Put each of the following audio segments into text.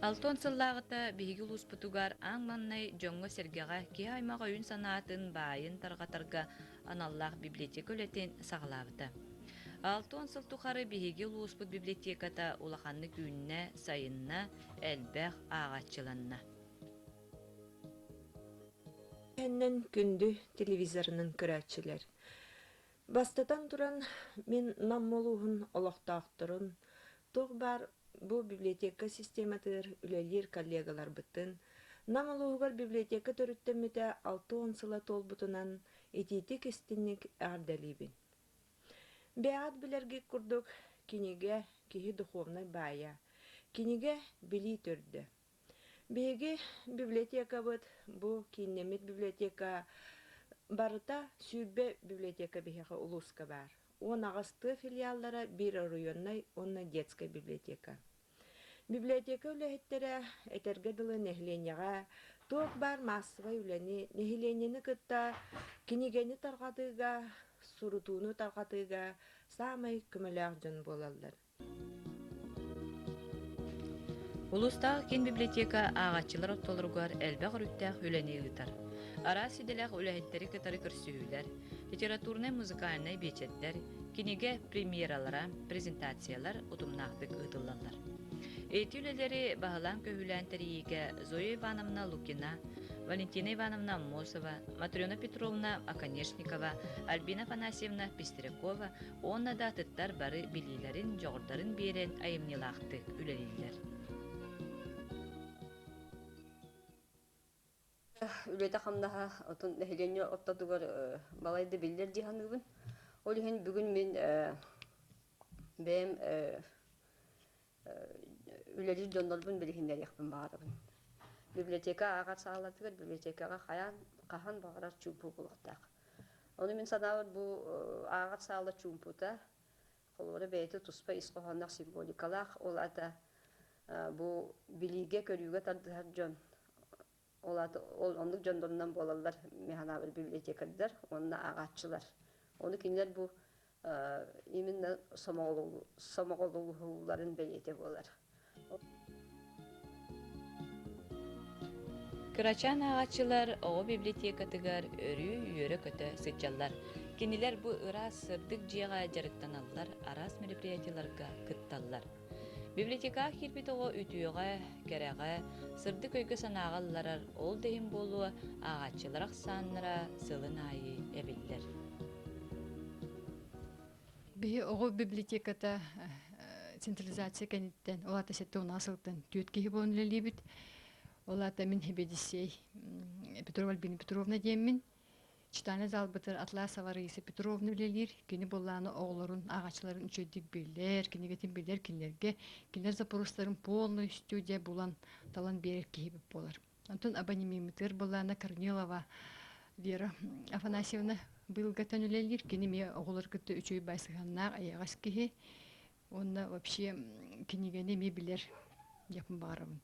Алтон сыллааҕыта биһиги улууспутугар аң маҥнай дьоҥҥо-сэргэҕэ киһи аймах өйүн-санаатын баайын тарҕатарга аналлаах библиотека үлэтин саҕалаабыта. Алтон сыл тухары биһиги улууспут библиотеката улаханнык үүннэ, сайынна, элбэх ааҕаччыланна. Кэннин күндү телевизорынан көрөөччүлэр, бастатан туран, мин Нам улууһун олохтоохторун, туох баар бу библиотека систематыгар үлэлиир коллегаларбытын, Нам улууһугар библиотека төрүттэммитэ алта уон сыла туолбутунан итиитик-истинник эҕэрдэлиибин. Бэйэҕит билэргит курдук, кинигэ киһи духовнай баайа. Кинигэ билии төрдө. Биһиги библиотекабыт бу кииннэммит библиотека барыта сүүрбэ библиотека биһиэхэ улууска баар. Уон аҕыс тыа филиаллара, биир оройуоннай уонна детскай библиотека. Библиотека үлэһиттэрэ этэргэ дылы нэһилиэнньэҕэ туох баар маассабай үлэни, нэһилиэнньэни кытта кинигэни тарҕатыыга, сурутууну тарҕатыыга саамай көмөлөөх дьон буолаллар. Улуустаах киин библиотека ааҕаччылар ортолоругар элбэх өрүттээх үлэни ыытар. Араас идэлээх үлэһиттэри кытары көрсүһүүлэр, литературнай-музыкальнай биэчэрдэр, кинигэ премьералара, презентациялар утумнаахтык ыытыллаллар. Эти үлэлэри баһылаан-көһүүлээн тэрийиигэ Зоя Ивановна Лукина, Валентина Ивановна Аммосова, Матрена Петровна Оконешникова, Альбина Афанасьевна Пестрякова уонна да атыттар бары билиилэрин, дьоҕурдарын биэрэн айымньылаахтык үлэлииллэр. үлэтэ-хамнаһа отун нэһилиэнньэ ортотугар балай да биллэр дии саныыбын. Ол иһин бүгүн мин бэйэм үлэлиир дьоннорбун билиһиннэриэхпин баҕарабын. Библиотека ааҕар саалатыгар библиотекаҕа хайаан хаһан баҕарар чуумпу буолуохтаах. Ону мин санаабар бу ааҕар саала чуумпута Холуода бэйэтэ туспа ис хоһоонноох символикалаах, ол аата бу билиигэ-көрүүгэ тардыһар дьон, ол аата ол оннук дьоннорунан буолаллар механаабыр библиотекардар уонна ааҕааччылар. Ону кинилэр бу именно сомоҕолууларын бэлиэтэ буолар. Кырачаан ааҕаччылар оҕо библиотекатыгар өрүү үөрэ-көтө сылдьаллар. Кинилэр бу ыраас сырдык дьиэҕэ дьарыктаналлар, араас мероприятиеларга кытталлар. Библиотекаҕа киирбит оҕо үтүөҕэ, кэрэҕэ, сырдык өйгө-санааҕа ылларар, ол да иһин буолуо ааҕаччылар ахсааннара сылын аайы эбиллэр. Биһи оҕу библиотеката централизация кэнниттэн ол аата сэттэ уонаа сылтан түөрт киһи буолан үлэлиибит. Ол аата мин Хибэдиссей Петрова Альбина Петровна диэммин. Читааны залбытыр Атласова Раиса Петровна үлэлиир. Кини буллааны оҕолорун, ааҕаччыларын үчүгэйдик билэр, кинигэтин билэр, кинилэргэ, кинилэр запорустарын полный студия булан, талан биэрэр киһи буолар. Онтон абонимеммытыгар былаана Корнилова Вера Афанасьевна быйылгаттан үлэлиир. Кини эмиэ оҕолор кытта үчүгэй баай сыһыаннаах, айаҕас киһи. Уонна вообще кинигэни эмиэ билэр дьекпын баҕарабын.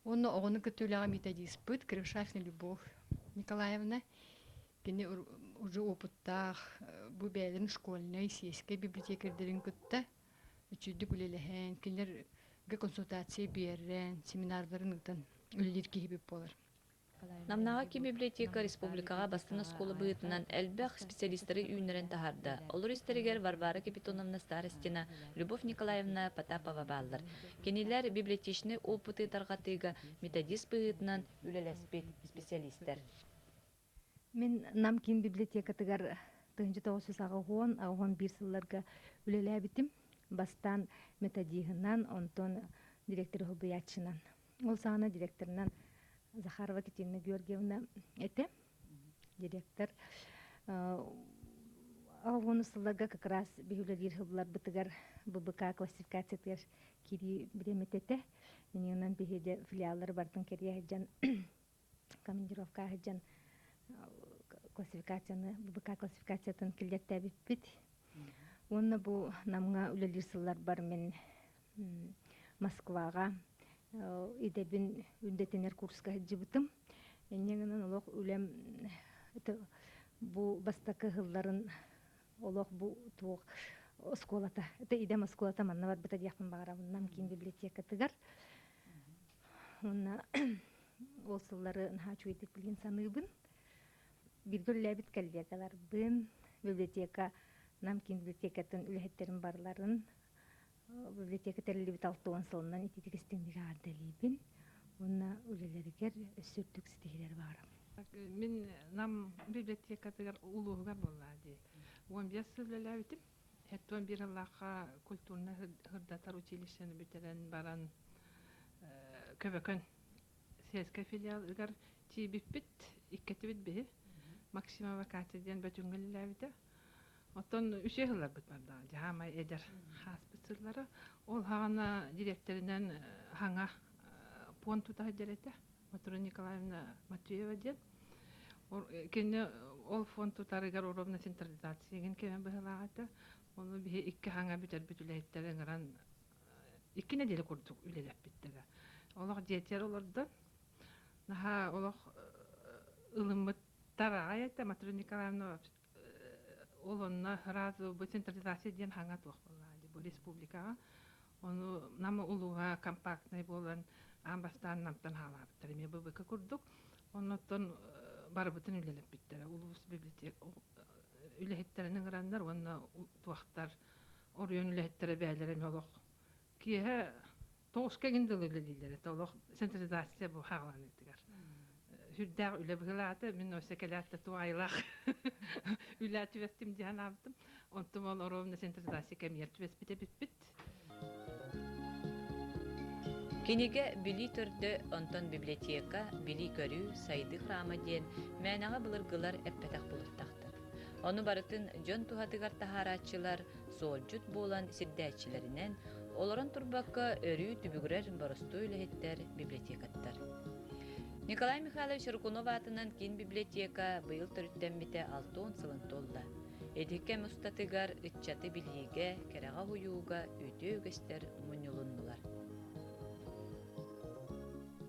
Уонна оҕону кытта үлэҕэ методиспыт Крышашна Любовь Николаевна. Кини уже опыттаах, бу бэйэлэрин школьнай, сиэскэй библиотекарьдарын кытта үчүгэйдик үлэлэһэн, кинилэргэ консультация биэрэн, семинардарын ыытан үлэлиир киһибит буолар. Намнааҕы кибиблиотека республикаҕа бастыҥ оскуола быһыытынан элбэх специалистары үүннэрэн таһаарда. Олор истэригэр Варвара Капитоновна Старостина, Любовь Николаевна Потапова бааллар. Кинилэр библиотечнай опыты тарҕатыыга методист быһыытынан үлэлэспит специалистар. Мин Нам киин библиотекатыгар тыһыынча тоҕус жүз аҕыһон, аҕыһон биир сылларга үлэлээбитим. Бастаан методиһынан, онтон директор уһулбуйааччынан. Ол саҕана директорынан Захарова Катерина Георгиевна этэ. Директор аҕыһон сылларга как раз биһиулэлиир сылларбытыгар ББК классификациятыгар киирии бириэмэтэ этэ. Ини онон биһиэдэ филиаллары бартын кэрийэ сылдьан командировка сылдьан классификацияны ББК классификациятын киллэртээбиппит уонна бу намҥа үлэлиир сылларбар мин москваҕа идэбин үрдэтинэр курска сылдьыбытым инньэ гынан олох үлэм бу бастакы сылларын олох бу туох оскуолата это идэм оскуолата манна барбыта диэхпин баҕарабын нам киин библиотекатыгар уонна ол сыллары наһаа үчүгэйдик билин саныыбын бииргэ үлэлээбит коллегаларбын библиотека нам киин библиотекатын үлэһиттэрин барларын библиотека тэриллибит алта уон сылынан ититик истиҥник аҕардалиибин уонна үлэлэригэр өссө үрдүк ситиһиилэр баара мин нам библиотекатыгар улууһугар буоллаа дии уон биэс сыл үлэлээбитим Hetton биир ыллаахха культурнай хырдатар училищены бүтэрэн баран Көбөкөн сельскай филиал ыгар тиийбиппит, иккитибит биһи Максимова Катя диэн бөтүҥҥэ үлэлээбитэ. Оттон үсүө сылларбыт бардаҕа дьаһаамай эдэр хааспыт сыллара. Ол саҕана дириэктэринэн хаҥа пуон тута сылдьар этэ. Матура Николаевна Матвеева диэн. Кини ол фонд тутарыгар уровня централизациягын кэмэ быһылаах этэ. Ону биһи икки хаҥа бүтэрбит үлэһиттэри ыҥыран икки нэдиэлэ курдук үлэлэппиттэрэ. Олох дьиэтигэр олордон, наһаа олох ылыммыттар аҕай этэ Матура Николаевна ол онно раз бы централизация диэн хаҥа туох буоллаҕа бу республикаҕа ону Нам улууһа компактнай буолан аан бастаан Намтан хаалаабыттар эмиэ ББК курдук оннуттан барыбытын үлэлэппиттэрэ улуус библиотек үлэһиттэрин ыҥыраннар уонна туохтар оройуон үлэһиттэрэ бээлэрэ эмиэ олох киэһэ Тоҕус кэлин дылы үлэлииллэр этэ олох синтезизация бу хааланыытыгар. Сүрдээх үлэ быһылаата. Мин өссө кэлээт туох айылаах үлэ түбэстим дии санаабытым. Онтум ол оровна синтезизация кэмигэр түбэспит эбиппит. Кинигэ билии төрдө, онтон библиотека, билии-көрүү, сайдыы храма диэн мээнэҕэ былыргылар эппэтэх былыттахтар. Ону барытын дьон туһатыгар таһаарааччылар, Суолдьут буолан сирдээччилэринэн, олорон турбакка өрүү түбүгүрэр боростуой үлэһиттэр, библиотекаттар. Николай Михайлович Рукунов аатынан киин библиотека быйыл төрүттэммитэ алта уон сылын туолла. Ити кэм устатыгар ыччаты билиигэ, кэрэҕэ-уйууга үтүө үгэстэр мунньулуннулар.